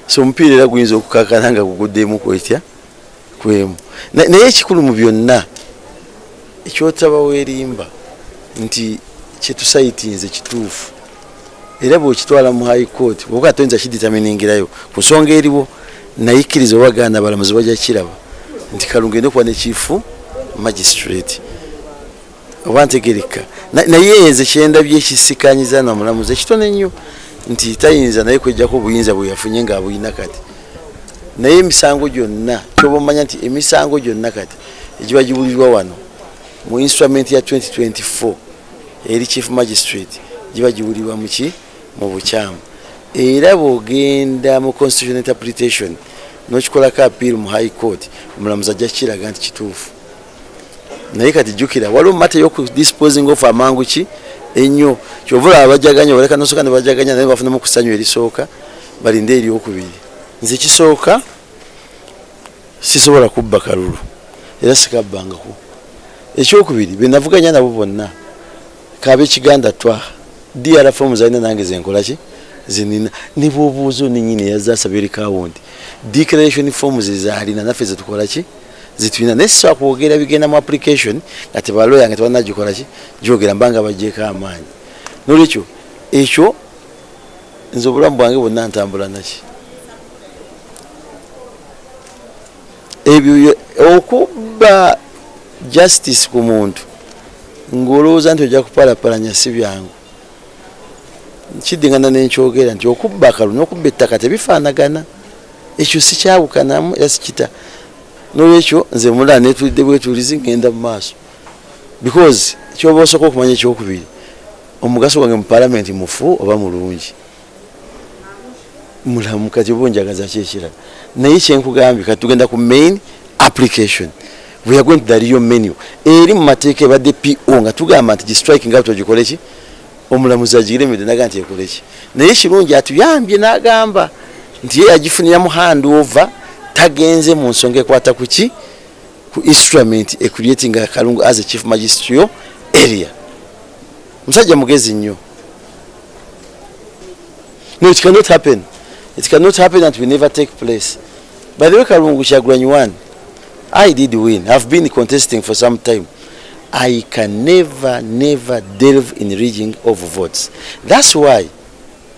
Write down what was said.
so omupiira era guyinza okukakana nga guguddemu kwetya kwemu naye ekikulu mu byonna ekyotaba werimba nti kyetusayitinze kituufu era bwekitwala mu high court oba atoyinza kiditaminiingirayo ku nsonga eriwo nayikkiriza oba ganda balamuzi bajja kiraba nti kalungu enda okuba nekifu magistrate oba ntegereka naye nze kyendabye ekisikanyiza na mulamuzi ekitone ennyo nti tayinza naye kwejjako obuyinza bwe yafunye ng'abulina kati naye emisango gyonna kyoba omanya nti emisango gyonna kati egiba giwulirwa wano mu instrument ya 2024 eri chief magistrate giba giwulirwa muki mu bukyamu era bwogenda mu constitution interpretation nokikolako appeal mu high court omulamuzi ajja kukiraga nti kituufu naye kati jukira waliwo mate yoku disposing of amangu ki ennyo kyova olaba bajaganya baleka nosooka nebajaganya naye bafunamu ku ssanyu erisooka balinde eryokubiri nze kisooka sisobola kubba kalulu era sikabbangako ekyokubiri benavuganya nabo bonna kabekiganda twa dr fomu zalina nange zenkolaki zinina nebwobuuza oninyini yazasabye eri kawundi declaration fomu zezalina naffe zetukolaki zitulina naye sisobola kwogera bigenda mu application nga tebaloya nga tebanagikola ki gyogera mbanga bagyeko amaanyi nolwekyo ekyo nze obulamu bwange bwonna ntambula naki ebyo okubba justice ku muntu ng'olowooza nti ojja kupalapalanya si byangu nkiddingana nenkyogera nti okubba akalu nokubba ettaka tebifaanagana ekyo sikyawukanamu era sikita nolwekyo nze mulaa netulidde bwetulizi ngenda mu maaso because kyoba osooka okumanya ekyokubiri omugaso gwange mu palamenti mufu oba mulungi mulamu kati oba onjagaza ki ekirala naye kyenkugambye kati tugenda ku main application we are going to the real menu eri mu mateeka ebadde po nga tugamba nti gistriking out ogikole ki omulamuzi agiremedde naga nti ekole ki naye kirungi atuyambye n'agamba nti ye yagifunira mu hand over tagenze mu nsonga ekwata ku ki ku instrument ecreating akalungu as a chief magistrio area musajja mugezi nnyo no it cannot happen it cannot happen and we never take place by the way kalungu kyagulanyi one i did win ihave been contesting for some time i can never never delve in reading of votes that's why